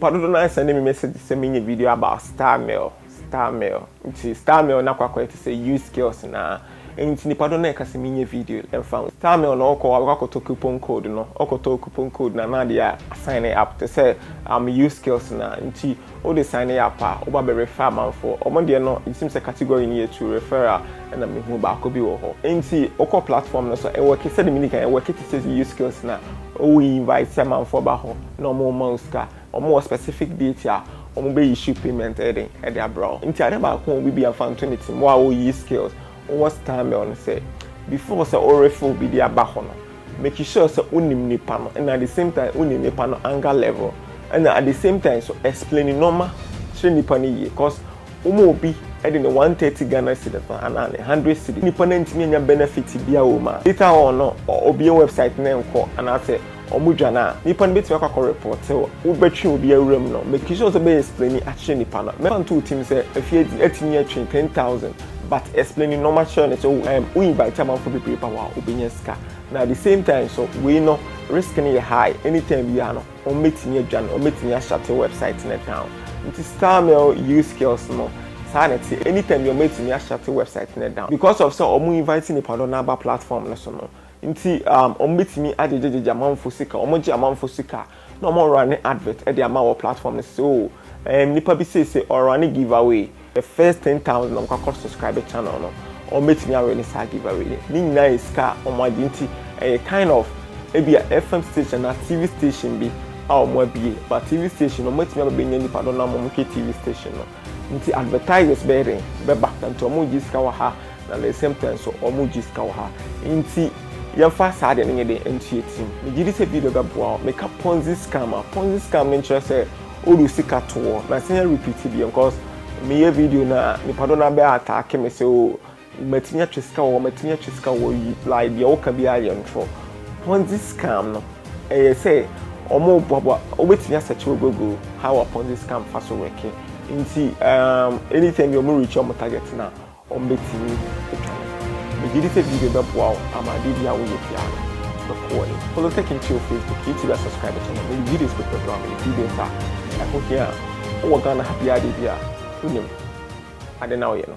Papa dodo naa sɛnde me message sɛ menyɛ video about star mail star mail nti star mail no akɔ akɔyɛ te sɛ used skills naa nti nipa dodo naa ɛka sɛ menyɛ video ɛnfa ho star mail no ɔkɔ abɛkɔ akɔtɔ coupon code no ɔkɔ tɔɔ coupon code no anaa deɛ a sign up te sɛ um used skills naa nti wode sign up a woba bɛ refer amanfoɔ ɔmo deɛ no it seems sɛ category no yɛ two referral ɛna me hu baako bi wɔ hɔ nti wokɔ platform no so ɛwɔke sɛde medi kan ɛwɔke te sɛ used skills naa owo invite amanfoɔ ba hɔ. na ɔmo ma wo sika, ɔmo wɔ specific date a ɔmo bɛ issue payment ɛyɛ den ɛde abra wo. Nti ade baako a obi bia nfa nto ne tirim wo a oyi skills wɔ stamel ne sɛ, before sɛ wo refer obi de aba hɔ no, make sure sɛ wo nim nipa no ɛna at the same time wo nim nipa no anger level ɛna at the same time nso explain nnoɔma kyerɛ nipa no yie cause Woma obi de ne one thirty Ghana cedis ma anaa ne hundred cedis, nipa no antumi anya benefit biaa wɔ mu a, later on no ɔbue website no nkɔ anaasɛ ɔmo dwane a, nipa no bɛtumi akɔ akɔ report wo. Wo bɛtwe obi awura mu no, make sure sɛ bɛ explaini akyerɛ nipa no. Mɛfa nto wo tirim sɛ afie adi atumi atwe ten thousand but explaini nnoɔma kyerɛ no sɛ oh erm wo invite amanfoɔ bebree ba hɔ a wobɛnya sika na at the same time nso wei no risk no yɛ high, anytime biaa no, Wɔbɛtumi adwane, wɔbɛtumi ashate wɛbsaet no down. Nti Starmail use skills no, saa na ɛteɛ. Anytime biara wɔbɛtumi ashate wɛbsaet no down. Because of sɛ wɔn invite nnipadɔm no aba platform no so no nti, wɔbɛtumi agyegyegyegye amanfoɔ sika. Wɔgye amanfoɔ sika a, na wɔrane advert de ama wɔ platform no so sɛ oh, nnipa bi seesei ɔrane giveaway. The first ten thousand na ɔmo ka kɔ subscribe channel no ɔmo betumi awɛ ne saa giveaway no ne nyinaa yɛ sika a ɔmo agye nti ɛyɛ kind of ebi a fm station na tv station bi a ɔmo abie but tv station no ɔmo betumi aba benya nipa do na ɔmo hwɛ tv station no nti advertisers bɛyɛ den bɛba na nti ɔmo gye sika wɔ ha na the same time so ɔmo gye sika wɔ ha nti yɛmfa saa deɛ no nyɛ den ntua tim megye di sɛ video bɛboa wo meka ponzi scam a ponzi scam no nkyerɛ sɛ Odu sika to wɔ na sɛ yɛ repeat bi cause me yɛ video na nipa do na bɛ attack me sɛ o matumi atwe sika wɔ matumi atwe sika wɔ yi like deɛ woka bi ayɛ ntorɔ ponzi scam no ɛyɛ sɛ ɔmo boaboa wobɛtumi asɛkye wɔ google how a ponzi scam fa so wɛke nti um, anytime bi ɔmo reach ɔmo target na Wɔbɛtumi atwa no. Megye di sɛ video bɛboa wo ama adeɛ biara a woyɛ biara no bɛkɔ w'anim. Follow Tech Nti wɔ Facebook, YouTube a subscribe to no. Mede videos pɛpɛ brɛ wo. Mede videos a ɛho hia a wowɔ Ghana ha biara deɛ bi a wonim ade no a woyɛ no.